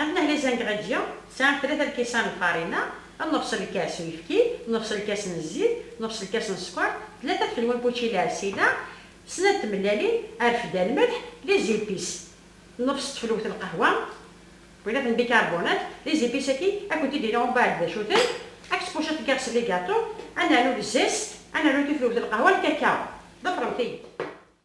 At Nehla Izangaɣ-Agi sɛan tlata n lkisan n lfarina, nnefṣ n lkas n uyefki, nnefṣ n lkas n zzit, nnefṣ n lkas n sskeṛ, tlata tfelwa n wučila Arsila, snat n tmellalin Arfda n lmelḥ, les épices, nnefṣ n tfelwt n lqahwa, wilaten bicarbonate, les épices-agi ad kent-id-iniɣ umbeɛd d acu-ten, ad k-ttpucaɣ tgiɣ s ligaṭu, ad nernu les zest, ad nernu tiflwt n lqahwa n lkakaw. Ḍefṛemt-iyi-d.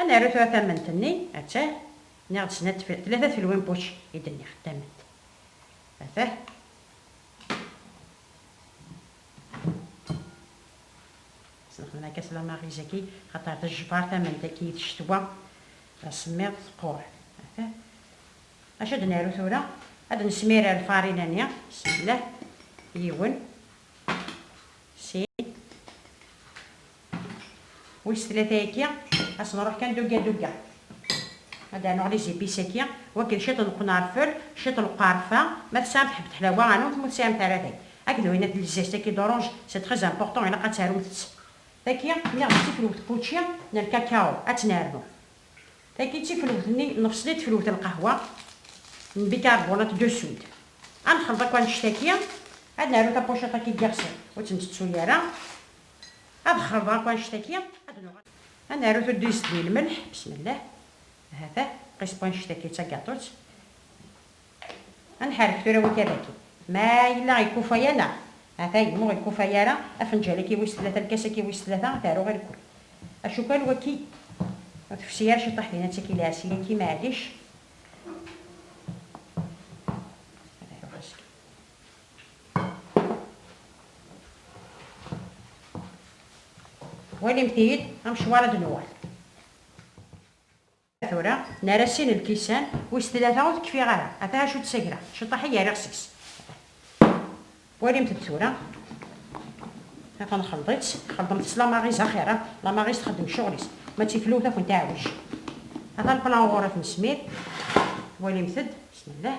Ad naru tura tament-nni, attah, nniɣ-d snat, tlata tfelwin puc i d-nniɣ, tament, attah. Sneqden akka s lamariz-agi, xaṭer tejbar tament-agi d ccetwa, d asemmiḍ, teqqur, attah. Acu ad naru tura? Ad nesmirer lfarina-nni, bismillah, yiwen, sin. Wis tlata yagi, ad s-nruḥ kan dugga dugga. Ad d-rnuɣ les épices agi, wakken ciṭ n qnarfel, ciṭ n lqarfa, ma tesɛamt ḥebb teḥlawa rnumt, ma ur tesɛimt ara tagi. Akked winnat n lzest agi d'orange, c'est très important, ilaq ad tarumt-tt. Tagi, nniɣ-d d tifelwet n wučči n lkakao, ad tt-nernu. Tagi d tifelwet-nni n lfeṣli, d tifelwet n lqahwa, n bicarbonate de soude. Ad nexleḍ akk annect-agi, ad naru tapuciṭ agi n yiɣsan, ur tt-ntettu ara. Ad xerḍeɣ akk annect-agi, ad nuɣal. Ad naru tuddist di lmelḥ, bismillah. Hata, qisbu annect-agi d tagaṭut. Ad nḥerrek tura wi kadagi. Ma yella ikufay-aneɣ, hata yemma ur ikufay ara, afenǧal-agi wis tlata, lkas-agi wis tlata, ad t-aruɣ i lekul. Acukal waki ur tefsi ara ciṭaḥ din, ad taki lɛessi-agi, meɛlic. Walimt-iyi-d amecwar ad nuɣal. Tura nara sin lkisan, wis tlata ur tekfiɣ ara, ata acu d-ssagreɣ, ciṭaḥ i yerriɣ seg-s. Walimt-d tura, ata nxelḍ-itt, xelḍemt-tt la maɣiz axir, la maɣiz txeddem ccɣel-is, ma d tiflewt ad kent-iɛewwec. Ata lplan ɣur-i ad t-nesmir, walimt-d, bismillah.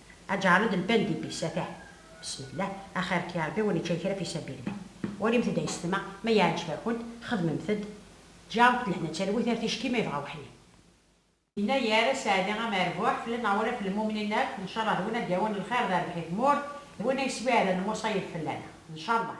Aǧarud n Pend Ibis, atah. Besmella, axir-k ya Rebbi ur nečča kra fi sabil-ik. Walimt-d aysetma, ma yeɛǧeb-akent, xedmemt-d. Ǧarut n leḥna d talwit ar ticki ma yebɣa weḥli. Yennayer, Sseɛdi amerbuḥ, fell-a neɣ ula fell mumnin akk, ncallah d win ad d-yawin lxir d rrbeḥ i tmurt, d win a yeswiɛden lmuṣayeb fell-aneɣ. Ncallah.